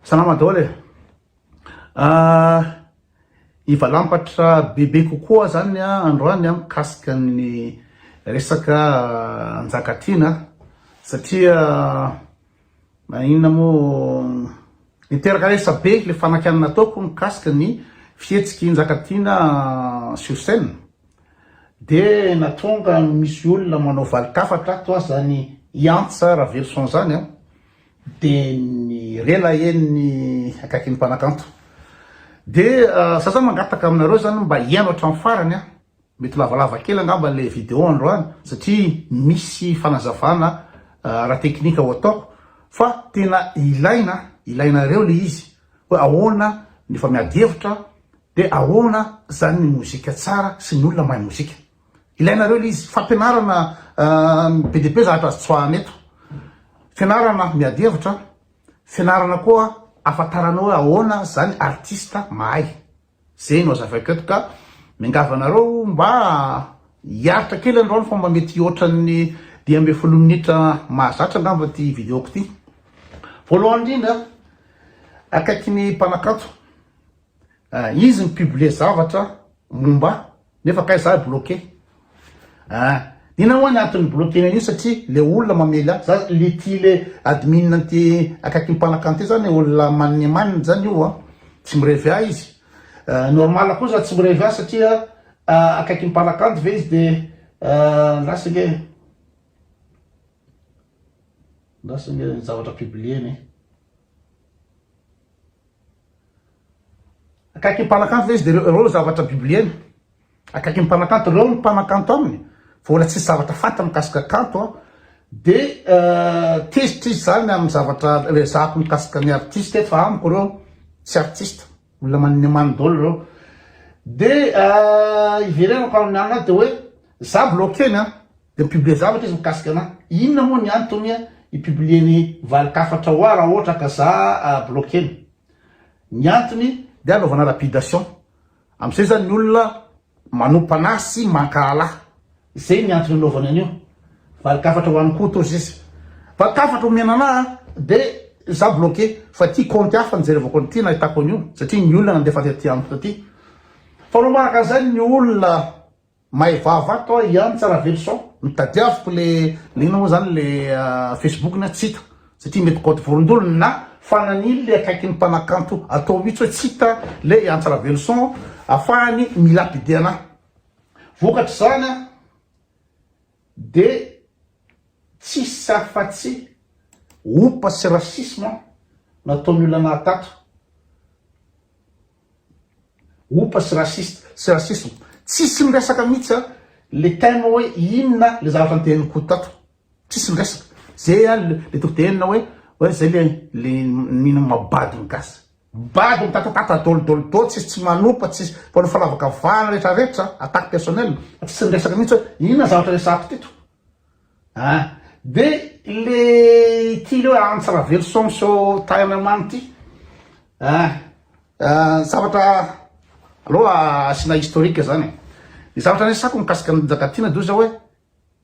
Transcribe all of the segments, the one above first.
Salama daholo e! Hivalampatra bebe kokoa zany androany mikasika ny resaka Njakatiana satria na inona moa niteraka resabe le fanakiana nataoko mikasika ny fihetsiky Njakatiana sur scène de natonga misy olona manao valin-kafatra toa zany hiantsa Raveloson zany an! Dia ny rela eny ny akaikin'ny mpanakanto. Dia za zany mangataka aminareo zany mba hihaino hatramin'ny farany an! Mety lavalava kely angamba ilay video androany satria misy fanazavana ara-teknika ho ataoko fa tena ilaina, ilainareo ilay izy hoe ahoana ny efa miady hevitra dia ahoana zany ny mozika tsara sy ny olona mahay mozika. Ilainareo ilay izy. Fampianarana be dia be zavatra azo tsoahana eto. Fianarana miady hevitra, fianarana koa ahafantarana hoe ahoana izany artista mahay. Izay no hazavaiko eto ka miangavy anareo mba hiaritra kely androany fa mba mety ohatran'ny dimy ambin'ny folo minitra mahazatra angamba ity vidéo-ko ity. Voalohany indrindra, akaiky ny mpanakanto. Ah izy mi publie zavatra momba ahy nefa kay za bloquer ah ina hoa ny antony bloquer an'io satria le olona mamely ahy za le ty le admin an'ty akaiky ny mpanakan ty zany olona manne manne zany io an tsy mirevy ahy izy ah normal koa za tsy mirevy ahy satria ah akaiky ny mpanakanto ve izy de ah lasa ange lasa ange ny zavatra publie-ny. Akaiky ny mpanakanto ve izy? Dia ireo no zavatra bibliana. Akaiky ny mpanakanto, ireo no mpanakanto aminy. Fa mbola tsisy zavatra fantany mikasika kanto aho. Dia tezitra izy izany amin'ny zavatra ezahako mikasika ny artista eto, fa amiko ireo tsy artista. Olona manin'ny amany daholo ireo. Dia hiverenako amin'ny anao dia hoe, izaho bloquer ny an! Dia mi-publier zavatra izy mikasika anah. Inona moa ny antony hi-publier ny valin-kafatra hoa raha ohatra ka za bloquer-na? Ny antony dia hanaovana lapidation. Amin'izay izany ny olona manompo anah sy mankahala ahy. Izay ny antony hanaovany an'io. Valin-kafatra ho an'i Koto ozy izy. Valin-kafatra omena anah dia za bloquer. Fa ity kaonty hafa nijerevako an'ity nahitako an'io satria ny olona nandefa an'ity antony ity. Fanao manaraka an'izay ny olona. May vava ato aho ihany tsara velo sao no tadiaviko le le inona moa zany le facebook ny aho tsy hita satria mety code vorondolo na fanan'ily le akaikin'ny mpanakanto atao mitsy hoe tsy hita le ihany tsara velo son afahany milapide anah vokatr'izany an de tsisy afatsy opa sy racisme nataon'ny olona nahatato Opa sy raciste sy racisme tsisy miresaka mitsy a le thème hoe inona le zavatra nitenin'Koto tato tsisy miresaka ze a le toko teninao hoe hoe zay le le nino mabado ny gasy bado mitatatata dolo dolo dolo tsisy tsy manopa tsisy mpanao falavakavahana retraretra attaque personnelle tsisy miresaka mitsy hoe inona zavatra resahako teto. An! de le ity leo Antso Raveloson so taina mamy ity an! zavatra aleo asiana historique zany e! ny zavatra niresako mikasika an'i Njakatiana de ozy zao hoe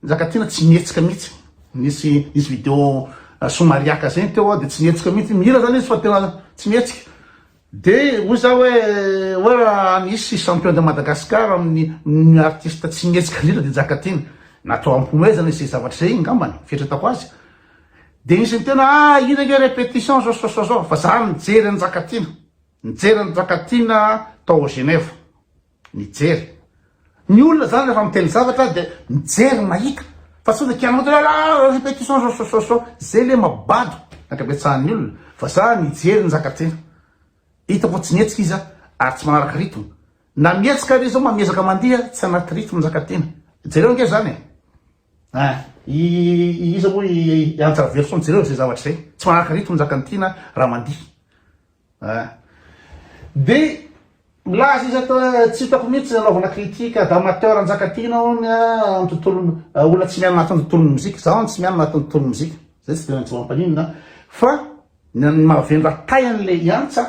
Njakatiana tsy mihetsika mihitsy nisy nisy video somariaka zay ny teo de tsy mihetsika mihitsy mihira zany izy fa tena tsy mihetsika Dia hoy za hoe hoe raha nisy champion de Madagascar amin'ny ny artiste tsy mihetsika indrindra dia Jakatiny. Natao hampihomehezana izay zavatra izay ngambany fieritretako azy. Dia nisy nitena ah iny ange repetition zao zao zao zao fa za nijery an'i Jakatiny. Nijery an'i Jakatiny tao Genève. Mijery. Ny olona zany rehefa miteny zavatra dia mijery mahita fa tsy hoe kianao dia la la répétition sosososo izay le mabado ny ankabetsahan'ny olona fa za mijery ny zaka-tena hitako fa tsy mihetsika izy ary tsy manaraka rythme na mihetsika ary izy zao miezaka mandiha tsy anaty rythme ny zaka-tena jereo ange zany e ah i iza moa i Antsa Raveloson jereo izay zavatra izay tsy manaraka rythme ny zaka-tena raha mandiha An! Dia milaza izy eto hoe tsy hitako mihitsy anaovana critique d'amateur Njakatiana hono amin'ny tontolon olona tsy miaina anatin'ny tontolon'ny mozika, izaho hono tsy miaina anatin'ny tontolon'ny mozika, izay tsy dia maintsy ho ampaninina an! Fa ny an'ny mahavendra tay an'ilay hiantsa,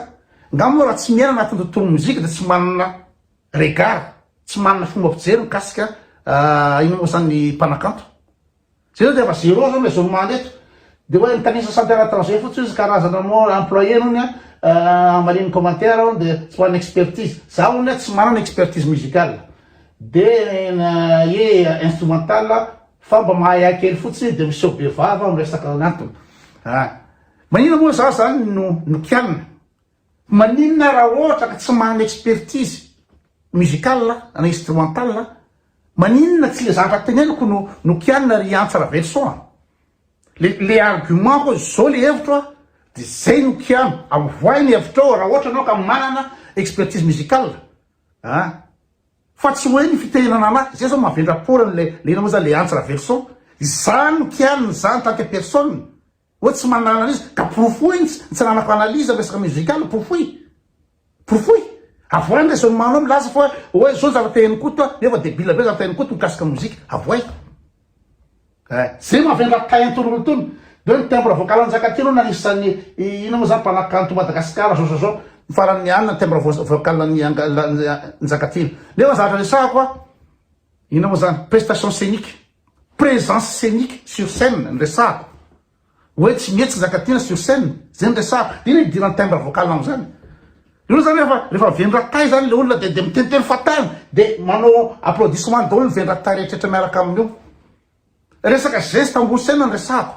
nga moa raha tsy miaina anatin'ny tontolon'ny mozika dia tsy manana regard, tsy manana fomba fijery mikasika inona moa izany ny mpanakanto? Jereo dia efa zero zao le zone mande eto. Dia hoe mitanisa centre à l'étranger fotsiny izy karazana moa employé hono a hamaliany commentaire hono dia tsy manana expertise. Za hono le tsy manana expertise musicale be na hoe instrumentale fa mba mahaihay kely fotsiny dia miseho be vava miresaka ny antony. Ah! Maninona moa za zany no nikianina? Maninona raha ohatra ka tsy manana expertise musicale na instrumentale an? Maninona tsy le zavatra teneniko no no kianina ry Antsa Raveloson an? Le le argument ko zao le hevitro an de zay no kiano, avoahy ny hevitrao raha ohatra enao ka manana expertise musicale an! Fa tsy hoe ny fitenenana anahy, zay zao mahavendra-poana anle le inona moa zany le Antsa Raveloson, izaho no kianina, izaho en tant que personne Hoe tsy manana analyse? Ka porofoy ny tsy ananako analyse amin'ny resaka musical, porofoy! Porofoy! Avoahy ny raisonnement nao milaza fa hoe zao ny zavatra te hain'i Koto a, nefa debile be ny zavatra hain'i Koto mikasika mozika. Avoahy! Eh! Ze mavendrana tahin tony olona tony de hoe ny timbre vocal njaka ty aloha anisan'ny inona moa zany mpanakanto Madagascar zao zao zao ny farany mianina ny timbre vocal an'i Njaka ty nefa ny zavatra resahako a inona moa zany prestation scenique Présence scénique sur scène no resahako. Hoe tsy mety tsy zaka tiana sur scène. Zay no resahako. Dia inona hidiran'ny timbre vocal anao zany? Hitanao zany rehefa rehefa vendratay zany le olona dia dia miteniteny fatany dia manao applaudissement daholo ny vendratay rehetra rehetra miaraka aminy eo. Resaka geste ambony scène no resahako.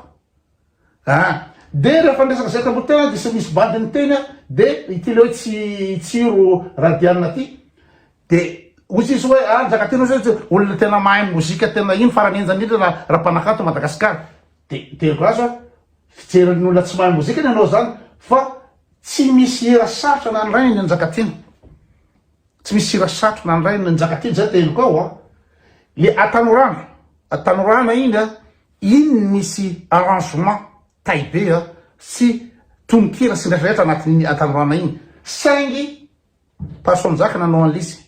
A, dia rehefa niresaka zay tamboho tena dia misy bandy niteny a, dia ity le hoe tsy tsiro raha dianina ty dia hoy izy hoe a Njakatiana hoy izy hoe olona tena mahay mozika tena iny farany henjana indrindra raha raha mpanakanto Madagasikara dia teriko azy hoe fijerin'ny olona tsy mahay mozika ny anao zany fa tsy misy hira sarotra nanorainy ny Njakatiana tsy misy hira sarotra nanorainy ny Njakatiana zay teniko ao a le Atanorana Atanorana iny a In ny misy arrangement tay be a! Tsy tononkira sy ny rehetra rehetra anatin'iny Atanorana iny saingy Passion Njaka nanao an'lisy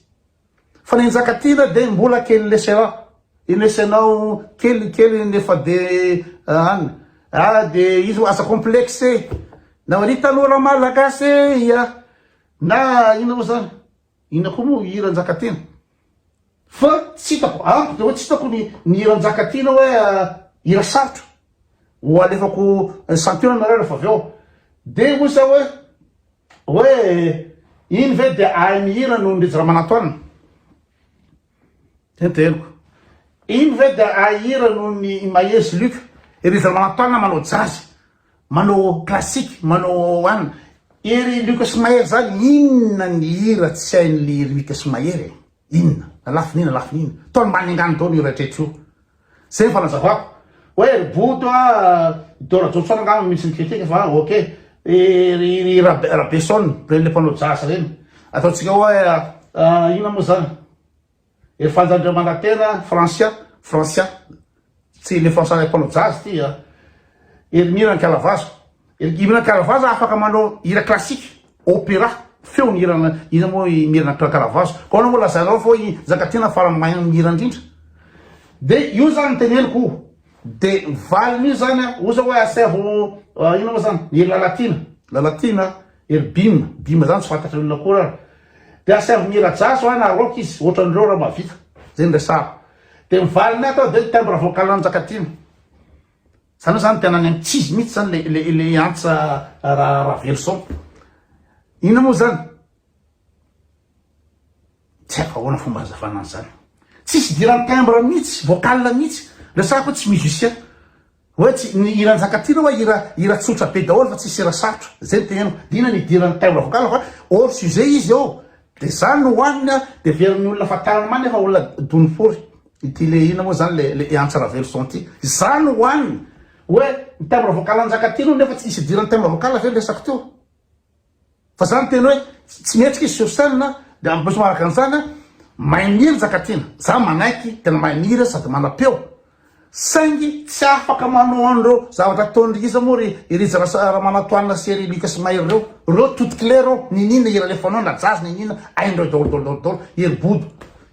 fa ny Njakatiana dia mbola kely lesera i lesenao kely kely nefa de an ah de izy oa aza complexe na ry tanora malagasy e! na ino moa zany Inona koa moa io hira Njakatiana? Fa tsy hitako, amiko dia hoe tsy hitako ny ny hira Njakatiana hoe hira sarotra. Ho alefako santionana re rehefa avy eo. Dia hoy za hoe, hoe iny ve dia ahy mihira noho ny Rija Ramanantoanina? Tenteniko. Iny ve dia ahira noho ny Mahezy Luc? Ery Zalamantaona manao jazz, manao classique, manao anona. Ery Luc sy Mahery zany inona ny hira tsy hain'ly Luc sy Mahery e? Inona? Na lafiny ina, lafiny ina. Tony mba nengany daholo io rehetra io. Zay ny fanazavako. Oe ry boto a, do rajoson angamba misy ny critique fa ok, ry rabeson reny le mpanao jazz reny ataontsika oe inona mo zany ry fanja andriamanantena francia francia tsy le francia le mpanao jazz ty a ry mira nkalavazo Ry Imran Kalavazo afaka manao hira classique, opéra, feo ny hirana, iza moa i Mirna Kalavazo? Ka ahoana moa lazainao fa i Njakatiana farany mahay mihira indrindra? De io zany ny teneniko o! De ny valiny io zany a, oza hoe asaivo inona moa zany, i Lalatiana, Lalatiana, ery Bim, Bim zany tsy fantatry olona akory ary, de asaivo mihira jazz hoa na rock izy, ohatran'ireo raha mahavita, zay no resahako. De ny valiny ato de ny timbre vocal-n'i Njakatiana. Zany hoe zany tena any ankizy mihitsy zany le le le antsa ra raveloson. Inona moa zany? Tsy haiko ahoana fomba hazavana an'izany. Tsisy idiran'ny timbre mihitsy, vocal mihitsy. Resahako hoe tsy musicien. Hoe tsy ny hira Njakatiana hoe hira hira tsotra be daholo fa tsisy hira sarotra. Zay no teneniko. Dina ny idiran'ny timbre vocal fa hors sujet izy eo. Dia izany no hoaniny an! Dia heverin'ny olona fa tara mania fa olona dony fory ity le inona moa izany le le Antsa Raveloson ity. Izany no hoaniny! Hoe ny timbre vocal Njakatiana hono nefa tsy nisy idiran'ny timbre vocal ve ny resako teo? Fa izany ny teny hoe tsy mihetsika izy sur scène an! Dia en plus manaraka an'izany an, mahay mihira Njakatiana. Izaho manaiky, tena mahay mihira sady manam-peo. Saingy tsy afaka manao an'ireo zavatra ataon'i Riza moa ry i Riza Ramanantoanina sy ry Lucas Mahery ireo. Ireo tout clé ireo, niniana i Ralefanao na jazz niniana, hain'ireo daholo daholo daholo daholo, i ry Bodo,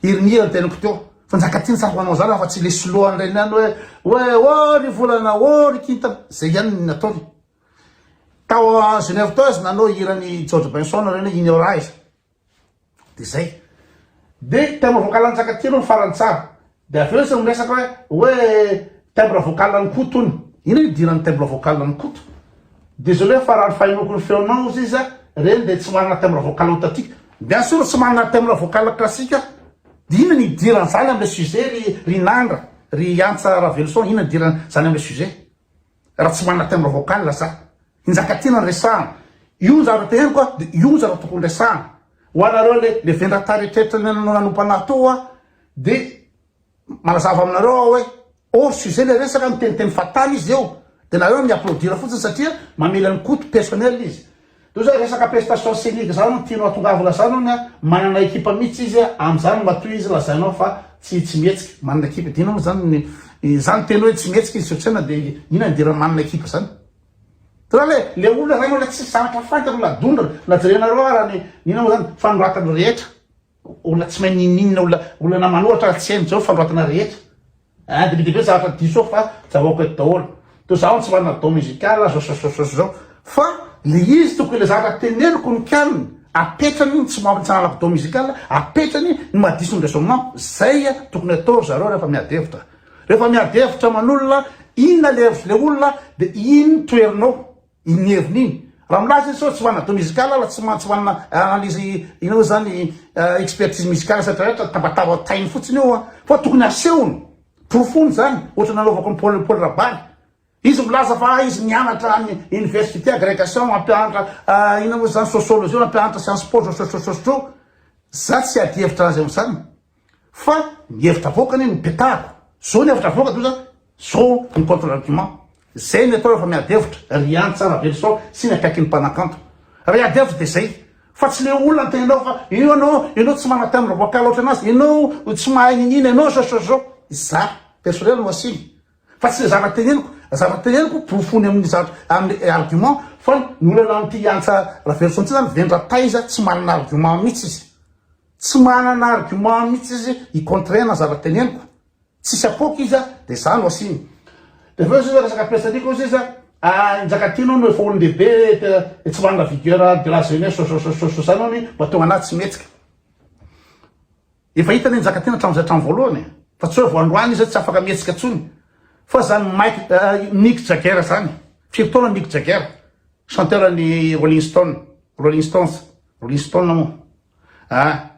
i ry Mia ry teniko teo. Fa Njakatiana tsy afaka manao an'izany afa-tsy ilay soloan'ireny ihany hoe, hoe oh ry volana, oh ry kintana. Izay ihany no nataony. Tao Genève tao izy nanao hiran'i George Benson ireny hoe Ignorais. de zay de timbre vocal an'i Njakatiana no farany tsara de avy eo izy no miresaka hoe hoe timbre vocal an'i Koto hono inona no idiran'ny timbre vocal an'i Koto désolé fa raha ny fahenoako ny feonao ozy izy reny de tsy manana timbre vocal authentique bien sûr tsy manana timbre vocal classique aho de inona no idiran'izany am'le sujet ry ry Nandra ry Antsa Raveloson inona no idiran'izany am'le sujet Raha tsy manana timbre vocal za. I Njakatiana no resahana. Io no zavatra teneniko a, dia io no zavatra tokony resahana. Ho anareo le le vendrata eritreritry ny anao nanompo anah teo a, dia manazava aminareo aho hoe hors sujet le resaka, miteniteny fahatany izy eo, dia nareo mi-applaudir fotsiny satria mamely an'i Koto personnel izy. Toy izany resaka prestation scenique izany no tianao atongavana izany hono a, manana ekipa mihitsy izy a, amin'izany matoa izy lazainao fa tsy tsy mihetsika. Manana ekipa dia inona moa izany ny izany teny hoe tsy mihetsika izy sotsaina dia inona ny diran'ny manana ekipa izany? Tena le le olona izany olona tsisy zavatra fantany olona dondrona na jerenareo ara ny inona moa izany fanoratany rehetra Olona tsy mahay n'ininona, olona olana manohatra ary tsy hainy zao fanoratana rehetra hein, de be dia be zavatra diso ao fa zavaoako eto daholo. Toa zaho tsy manana don musical zao zao zao zao zao fa le izy tokony le zavatra teneniko no kianina, apetrany ny tsy maha tsy hananako don musical, apetrany ny maha diso ny raisonnement, zay tokony atao ry zareo rehefa miady hevitra. Rehefa miady hevitra aman'olona inona le hevitry le olona de iny toherinao. Iny heviny iny. Raha milaza izy sao tsy ho an'Ado Musical ala tsy mantsy ho anà analyse inona moa zany expertise musicale sa traitra tambatambatainy fotsiny io an. Fa tokony asehony, porofoiny zany ohatra nanaovako an'i Paul Paul Rabary. Izy milaza fa izy nianatra any université agregation mampianatra inona moa zany sociologie mampianatra science po sosotrosotro. Za tsy hiady hevitra azy am'zany. Fa ny hevitra avoaka anie no petariko. Zao ny hevitra avoaka doza, zao ny contre argument. Zay ny atao rehefa miady hevitra, ry any Tsarabelisao sy ny akaikin'ny mpanakanto. Raha hiady hevitra dia zay. Fa tsy le olona antenainao fa io anao, ianao tsy manana timbre vocal ohatry anazy, ianao tsy mahay niniana, ianao zao zao zao. Za personnel no asiny. Fa tsy le zavatra teneniko. Zavatra teneniko porofony amin'ny zavatra, amin'ny argument. Fa ny olana amin'ity Antsa Raveloson ity zany vendrantaiza, tsy manana argument mihitsy izy. Tsy manana argument mihitsy izy hi contrer na zavatra teneniko. Tsisy apoaka izy dia za no asiany. Dia avy eo izy resaka petsaliaka ozy izy ah Njakatiana hono efa olondehibe dia tsy manana vigueur de la jeunesse sososososo zany hono mba tonga anah tsy mihetsika. Efa hitany i Njakatiana hatramin'izay hatramin'ny voalohany e. Fa tsy hoe vao androany izy tsy afaka mihetsika intsony. Fa zany Mike Mick Jagger zany. Firy taona Mick Jagger? Chanteur an'ny Rolling Stone, Rolling Stones, Rolling Stone moa. ah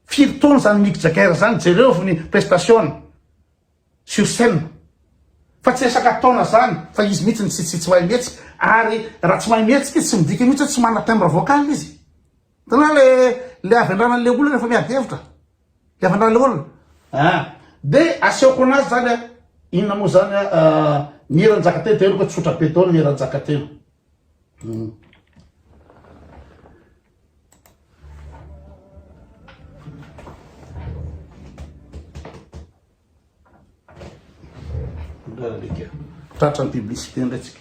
firy taona zany Mick Jagger zany jerevo ny prestation-ny sur scène fa tsy resaka taona zany fa izy mihitsy ny tsy tsy mahay mihetsika ary raha tsy mahay mihetsika izy tsy midika mihitsy hoe tsy manana timbre vocal izy tena le le avy andranan'le olona efa miady hevitra le avy andran'le olona ah de asehoko anazy zany a inona moa zany a ah, ny hiranjakateny de henoko hoe tsotra be daholo ny hiranjakateny hmm. Tratra ny publicité indray tsika.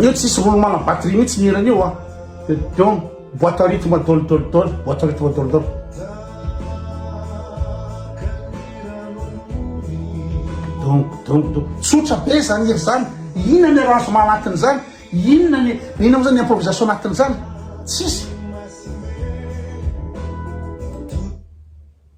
Io tsisy roulement na batterie mihitsy ny hirany io a. Dia dom, boîte à rythme dol dol dol, boîte à rythme dol dol. Dom dom dom. Tsotra be izany hira izany. Inona ny arrangement anatin'izany? Inona ny inona moa izany improvisation anatin'izany? Tsisy.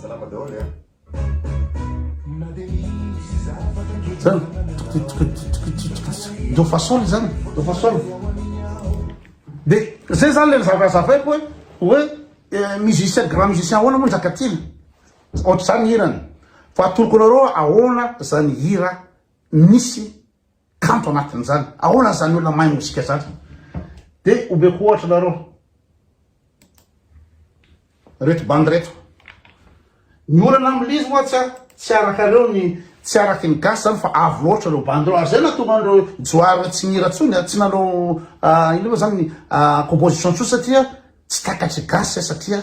Salama daholo e. Zany, do fa sol zany, do fa sol. Dia zay zany le zavatra zavaiko hoe hoe eh, musicien grand musicien ahoana moa Njakatiana. Ohatr'izany hirany. Fa atoroko anareo ahoana zany hira nisy kanto anatin'izany. Ahoana izany olona mahay mozika izany? Dia omeko ohatra nareo. Reto bandy reto. Ny olana amin'il'izy moa tsy tsy araka ireo ny tsy araka ny gasy izany fa avo loatra ireo bandy ireo. Ary izay nahatonga an'ireo johary hoe tsy nihira intsony, tsy nanao ah, inona moa izany ny ah, composition intsony satria tsy takatr'i gasy satria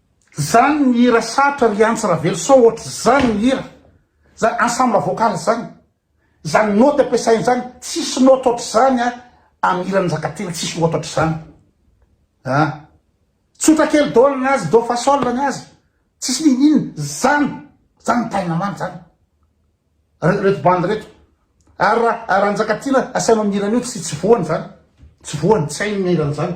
Zany ny hira sarotra ry Antsy Raveloson ohatr'izany ny hira, zany ensemble vocal zany, zany note ampiasainy zany tsisy note ohatr'izany an amin'ny hiran'i Njakatiana tsisy note ohatr'izany an! Tsotra kely do ny azy, do fa sol ny azy, tsisy n'inon'inona, zany, zany ny tahin'ny mama zany reto bandy reto, ary raha Njakatiana asainao mihira an'io tsy voany zany, tsy voany, tsy hainy ny hiran'izany.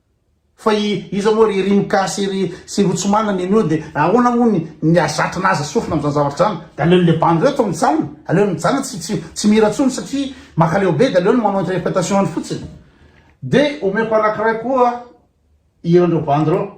Fa iza moa ry Rimka sy ry sy ro tsy manana enw de ahoana moa ny ny hazatra naza sofina amzany zavatra zany de aleony le bandy reto mijanona aleony mijanona tsy tsy tsy mihira tsony satria makaleo be de aleony manao interpretation any fotsiny de omeko anakiray koa hiranreo bandy reo.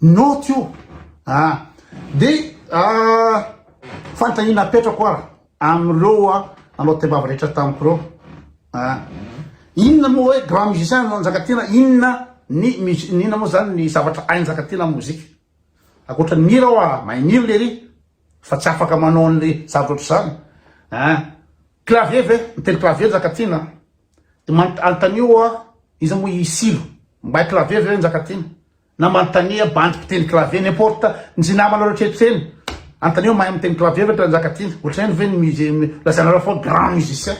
Note io ah de ah fanontaniana apetrako ara amin'ireo ah nanao tebavy rehetra tamiko ireo ah inona moa hoe grand musicien no Njakatiana inona ny musi ny inona moa zany ny zavatra hain'i Njakatiana amin'ny mozika ankoatra ny mihira aho ah mahay mihira lery fa tsy afaka manao an'le zavatra ohatr'izany ah clavier ve mitendry clavier Njakatiana de man- anontanio ah iza moa i Silo mahay clavier ve Njakatiana Na manontania bandy mpiteny clavier, n'importe, nzy namanareo tretry eny, anontanio mahay miteny clavier ve Ndrandrakatiana, otrany ve ny musé, lazainareo foana grand musicien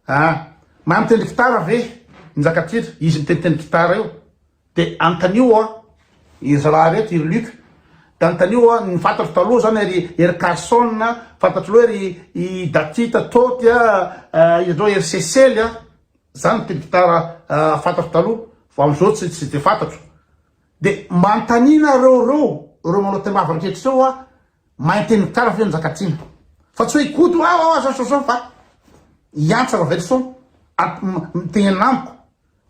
ah, mahay mitendry gitara ve Njakatiana, izy miteniteny gitara io, de anontanio hoa iry zalahy reto, iry Luc, de anontanio hoa ny fantatro taloha zany ery ery Carson a, fantatro loha ery i Daty Tôty a, izy ndreo ery Sesely a, Zany ity gitara fantatro taloha fa amzao tsy tsy de fantatro. De manontania nareo reo reo manao tembavy ankehitriny reo ah mainty ny kara ve njakatiana fa tsy hoe ikoto hoe aoa zao zao zao fa hiantsa ravelison mitenena amiko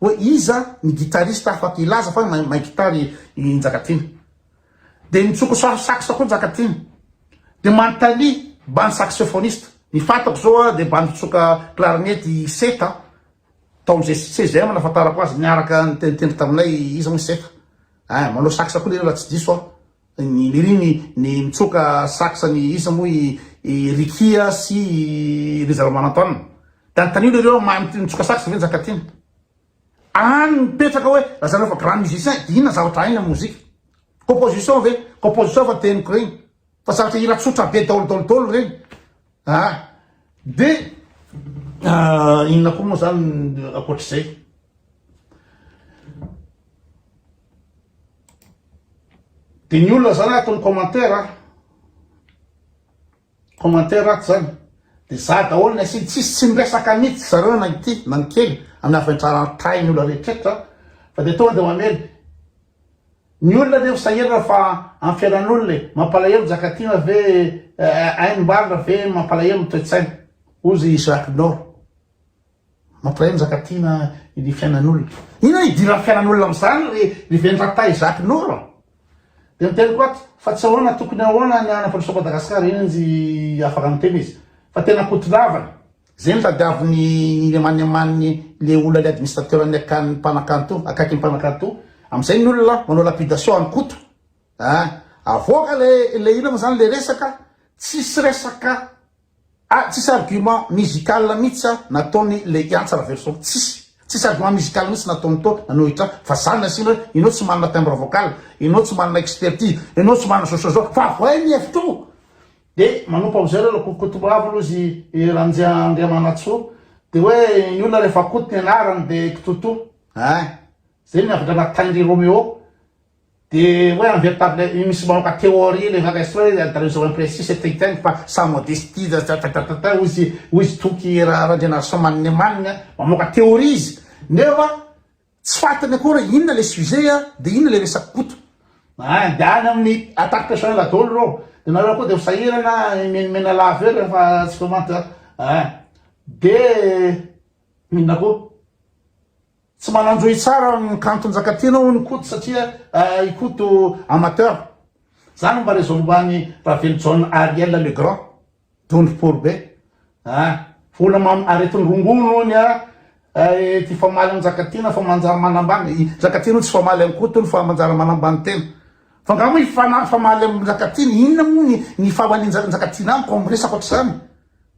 hoe iza ny guitariste afaka hilaza fa mahay gitara i njakatiana Dia nitsoko sary sax koa Njakatiana. Dia manontania bandy saxophoniste. Ny fantako izao aho dia bandy mpitsoka clarinette i Seta an. Tao amin'izay CGM no nahafantarako azy niaraka niteniteny taminay izy hono i Seta. Ein, manao sax koa lery raha tsy diso aho. Ny lery ny nitsoka sax an'i iza moa i i Ricky a sy i Riza Ramarantoanina. Dia anontanio lery hoe mahay mitsoka sax ve Njakatiana. Any mipetraka hoe lazaina fa grand musicien dia inona zavatra hainy amin'ny mozika? Composition ve? Composition fa teniko regny fa zavatra hira tsotra be daolo daolo daolo regny ah dia Ah, inona koa moa zany ankoatr'izay dia ny olona zany ataony commentaire a Commentaire ato zany de za daholo ny asiany tsisy tsy miresaka mitsy zareo na ny tia na ny kely amin'ny haventrantahin'ny olona rehetrretra fa de tonga de mamely ny olona anie sahirana fa amin'ny fiainan'olona e mampalahelo njakatiana ve hain'ny mbarina ve mampalahelo ny toetsaina hozy Isaac Nord Mampiray ny zaka tiana ny fiainan'olona. Inona no idiran'ny fiainan'olona amin'izany ry ry Vendrata Isaac Noro a! Dia niteniko ato fa tsy ahoana tokony ahoana ny hanapandrosoa Madagascar iny ry afaka miteny izy fa tena ankotolavana. Zay no tadiavin'ny lemaneman'ny le olona le administrateur ny akan'ny mpanakanto akaiky ny mpanakanto amizay ny olona manao lapidation an'i Koto a! Avoaka le le inona mo zany le resaka tsisy resaka Ah tsisy argument musical mitsy ah nataony le hiantsa raveloson tsisy tsisy argument musical mitsy nataony to nanohitra fa zany nasiany hoe enao tsy manana timbre vocal enao tsy manana expertise enao tsy manana zao sy zao fa avoay ny hevitro de manompa amizay reo lakorokoto avy aloha zy i ranjia andriamanatsoa de hoe ny olona refa koto ny anarany de kitoto hein zay ny avadra nataindry romeo De oe un veritable misy mamoka theorie le vaga estroy oe there is one precis et intend fa sa modestie tatatata hoy izy hoy izy toky ra randrianarison maninemanina mamoka theorie izy nefa tsy fantany akory inona le sujet a de inona le resaky koto a de any amin'ny attaque personnelle daholo reo de nareo koa de misahirana mimenimena lavo eo rehefa tsy comment a de inona koa Tsy mananjo hitsara ny kanto Njakatiana hono i Koto satria i Koto amateur. Za no mba raison mba an'i Ravelijaona Ariel le grand. Dondro pory be. Ah. Vola mam aretin'ny rongony hono ah ity famaly an'i Njakatiana fa manjary manambany. I Njakatiana hono tsy famaly an'i Koto hono fa manjary manambany tena. Fa nga moa i Fanahy famaly amin'i Njakatiana inona moa ny ny fahamalian'i Njakatiana amiko amin'ny resaka ohatr'izany.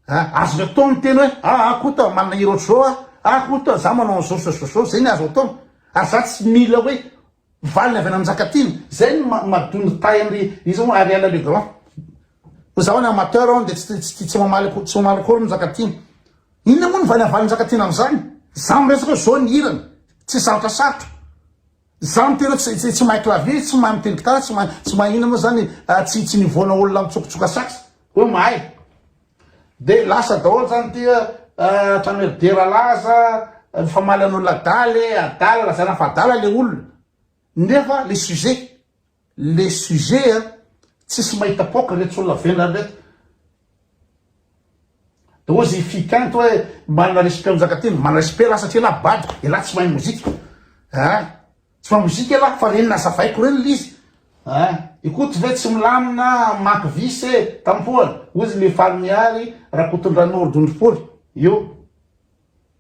A! Azon'ny atao ny miteny hoe a! a! Kota, manana hira ohatr'izao aho, a! Kota, za manao an'izao sy izao sy izao, zay ny azo atao. Ary za tsy mila hoe valiny avy any amin'ny Njakatiana. Zay no ma mahadoa ny tahin'ry iza moa Ariel le grand. Fa za hono amateur aho dia tsy tsy tsy mamaly akory tsy mamaly akory ny Njakatiana. Inona moa no valiny avalin'ny Njakatiana amin'izany? Za miresaka hoe zao ny hirany, tsy sarotra sarotra. Za miteny hoe tsy tsy mahay clavier, tsy mahay miteny gitara, tsy mahay tsy mahay inona moa zany ah, tsy tsy nivoana olona mitsokotsoka sax hoe mahay. Dia lasa daholo zany ity ah, hatrany hoe dera laza, mifamaly an'olona adaly, adala, lazaina fa adala le olona nefa le sujet. le sujet a tsisy mahita poka retsy olona vendrana reto de ozy i fikanto hoe manana respect njakatiana manana respect lah satria lah bado elah tsy mahay mozika ah tsy mahay mozika elah fa reny nazavaiko reny l'izy ah ikoto ve tsy milamina manky vice e tampohana ozy le fary miary rakotondranoro dondropoly io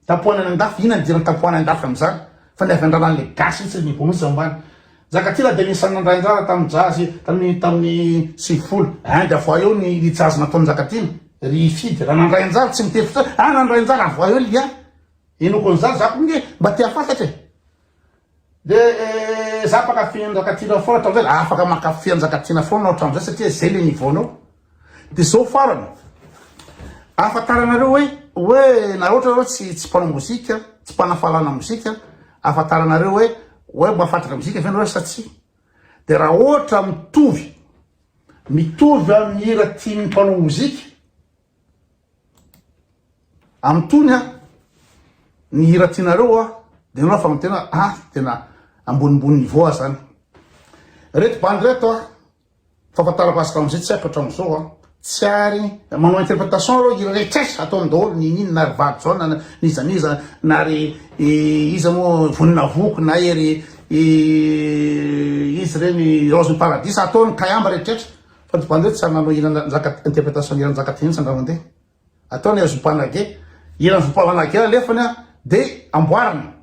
Tapohanana andafy, inona ny idiran'ny tapohana andafy amin'izany fa ny avy andrana an'ilay gasy mihitsy ny bonus ao ambany. Njakatiana dia anisan'ny nandray anjara tamin'ny jazz tamin'ny tamin'ny sivifolo. Hein dia avoahy eo ny ny jazz nataon'i Njakatiana. Ry Fidy, raha nandray anjara tsy miteny fotsiny hoe, ah nandray anjara, avoahy eo ny lien. Henoako an'izany za koa nge mba te hafantatra e. De za mpakafy anjakatiana foana hatramzay de afaka mankafy anjakatiana foana anao hatramzay satria zay le niveau nao de zao farany afantaranareo hoe hoe na ohatra anao tsy tsy mpanao mozika tsy mpanafalana mozika afantaranareo hoe hoe mahafantatra mozika ve anareo sa tsy de raha ohatra mitovy mitovy amin'ny hira tian'ny mpanao mozika Am tony a ny hira tianareo a de enao fa tena a tena ambonimbony niveau a zany reto bandy reto a fafantarako azy tamize tsy aiko atramizao a tsy ary manao interpretation reo hira rehetres ataony daholo ny nini na ry valo jaona na n'iza n'iza na ry iza moa vonina voky na ery izy reny raozin'ny paradisa ataony kayamba rehetrretra Fa divan hoe tsara nanao hira nanjaka interpretation ny hira nanjaka teny Sandramandeha. Atao ny Azopa Nage. Hira Azopa Nage alefany a de amboarina.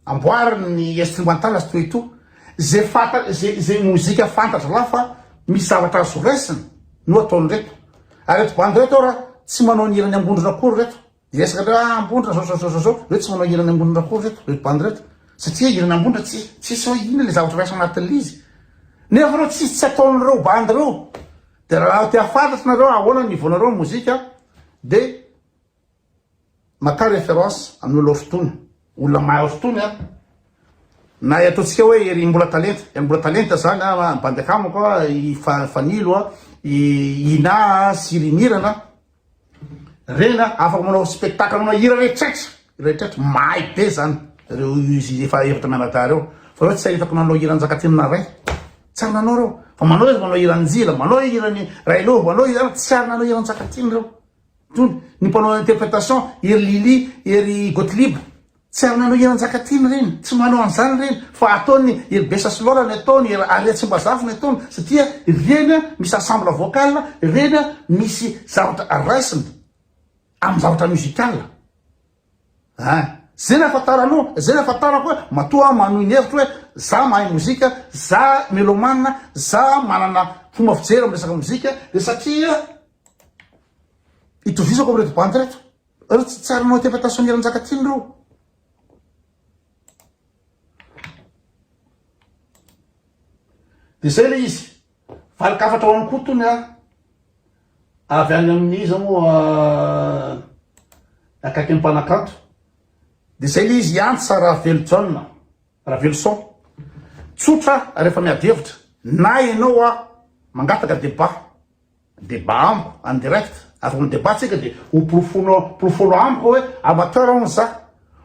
Amboariny ny instrumental sy toy toa. Ze fanta ze ze mozika fantatry lahy fa misy zavatra azo raisina no ataon'ireto. Ary reto bandy reto ara tsy manao ny hiran'ny Ambondrona akory reto. Hiresaka ndray ah Ambondra zao zao zao zao hoe tsy manao hira ny Ambondra akory reto reto bandy reto satria hira ny Ambondra tsy tsisy hoe inona le zavatra raisina anatin'le izy nefa reo tsisy tsy ataon'reo bandy reo de raha te hafantatra nareo ahoana ny niveau nareo ny mozika de maka référence amin'ny olona fotona olona mahay fotony a na i ataontsika hoe ery mbola talenta ery mbola talenta zany a bandy akamako a i fanilo a i ina a sy rimirana Reny a, afaka manao spectacle, manao hira rehetrretra, hira rehetrretra, mahay be zany reo izy efa efatra mianadahy reo, fa reo tsy hay afaka nanao hira Njakatiana ray, tsy ary nanao reo, fa manao izy manao hira Njila, manao hira ny Railo, manao hira ary tsy ary nanao hira Njakatiana reo, tony ny mpanao interpretation ery Lily, ery Gottlieb. Tsy ary nanao hira Njakatiana ireny, tsy manao an'izany ireny fa ataony ery Bessa sy Lola ny ataony, ery Aria Tsimbazafy ny ataony satria ireny misy ensemble vocal, ireny misy zavatra raisina amin'ny zavatra musical a! Izay ny ahafantaranao, izay ny ahafantarako hoe matoa manohy ny hevitro hoe za mahay mozika, za melomane, za manana fomba fijery amin'ny resaka mozika dia satria itovizako amin'ireto bandy ireto. Reo tsy tsara nao tefa ta Sonia Ranjakatiana reo. De zay le izy. Valiko hafatra ho an'i Koto ny ahy. Avy any amin'ny iza moa akaiky ny mpanakanto. De zay le izy hiantsa Ravelojaona, Raveloson. Tsotra rehefa miady hevitra. Na enao mangataka debat. Débat amiko en direct, avy mi débat tsika dia ho porofoinao porofoinao amiko hoe amateur hono za,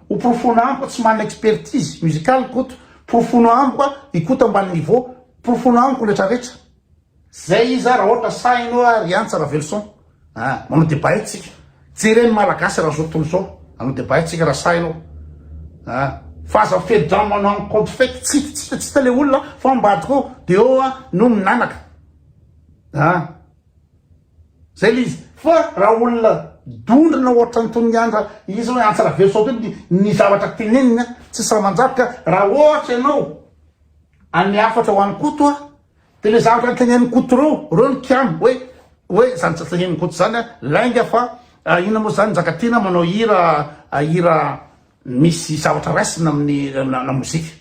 ho porofoinao amiko tsy manana expertise musicale i Koto, porofoinao amiko a i Koto ambany niveau, porofoinao amiko rehetra rehetra. Zay iza raha ohatra sahy anao a ry Antsa Raveloson a! manao débat eto tsika, jere ny malagasy raha zao tontolo zao hanao débat eto tsika raha sahy anao a! fa aza mifehy drame manao compte fake, tsy hita tsy hita le olona fa ambadika eo de eo a no minanaka. A! Zay le izy. Fa raha olona dondrona ohatran'i Toniandra izy hoe antsy ravelosoa be ny ny zavatra teneniny a! Tsy sahy mandrafitra a! Raha ohatra ianao hanome hafatra ho an'i Koto a! Dia le zavatra tenenin'i Koto reo, reo no kiano hoe hoe zany tsy tenenin'i Koto zany a! Lainga fa a inona moa zany Njakatiana manao hira a hira misy zavatra raisina amin'ny la mozika.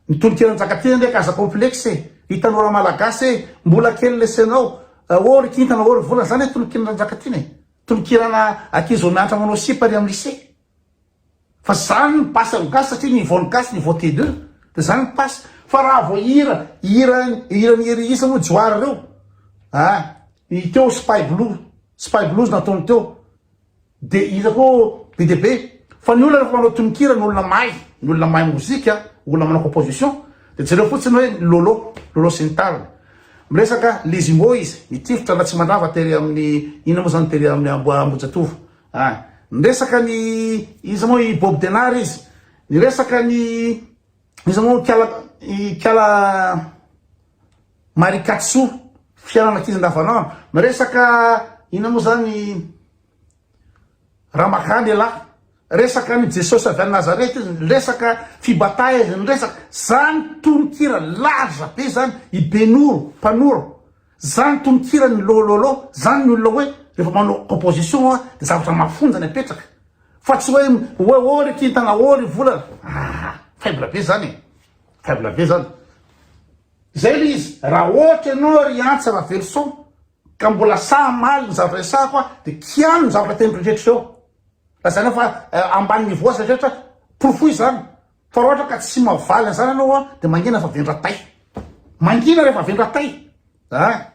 Ny tononkira Njakatiana ndreky aza complexe e! Ry tanora malagasy e! Mbola kely lesenao! Ô ry kintana ô ry volana! Zany e tononkiran Njakatiana e! Tononkirana ankizy vao mianatra manao sipa ry am lycée! Fa zany ny basy am gasy satria niveau ny gasy niveau T deux! De zany ny basy! Fa raha vao hira, hira, hiran'i Hery Isa moa Johary reo! Aa! Ny teo Spy Blue, Spy Blues nataony teo! Dia iza koa be dia be? Fa ny olona rehefa manao tononkira ny olona mahay, ny olona mahay mozika, olona manao composition, dia jereo fotsiny hoe ny Lolo, Lolo sy ny tariny. Miresaka les Imoys, ny tifitra Ratsimandrava tery amin'ny inona moa izany tery amin'ny Ambo- Ambohijatovo a! Niresaka ny iza moa i Bob Denard izy, niresaka ny. Iza moa ikala ikala marikatso fiainana ankizy andavanandro miresaka ina moa zany ramaka lehilahy resaka ny jesosy avy any nazareta izy resaka fibataha izy ny resaka zany tononkira laza be zany i benoro mpanoro Zany tononkiran'ny Lô Lô Lô zany ny olona hoe rehefa manao composition hoa de zavatra mafonja ny apetraka fa tsy hoe hoe oh ry kintana oh ry volana ah faible be zany e faible be zany zay le izy raha ohatra ianao ry Antsa Raveloson ka mbola sahy mamaly ny zavatra resahako aho de kiano ny zavatra teny rehetra eo lazainao fa ambany niveau aza rehetra porofoy zany Fa raha ohatra ka tsy mavaly an'izany ianao an, dia mangina fa vendra tay. Mangina rehefa vendra tay an.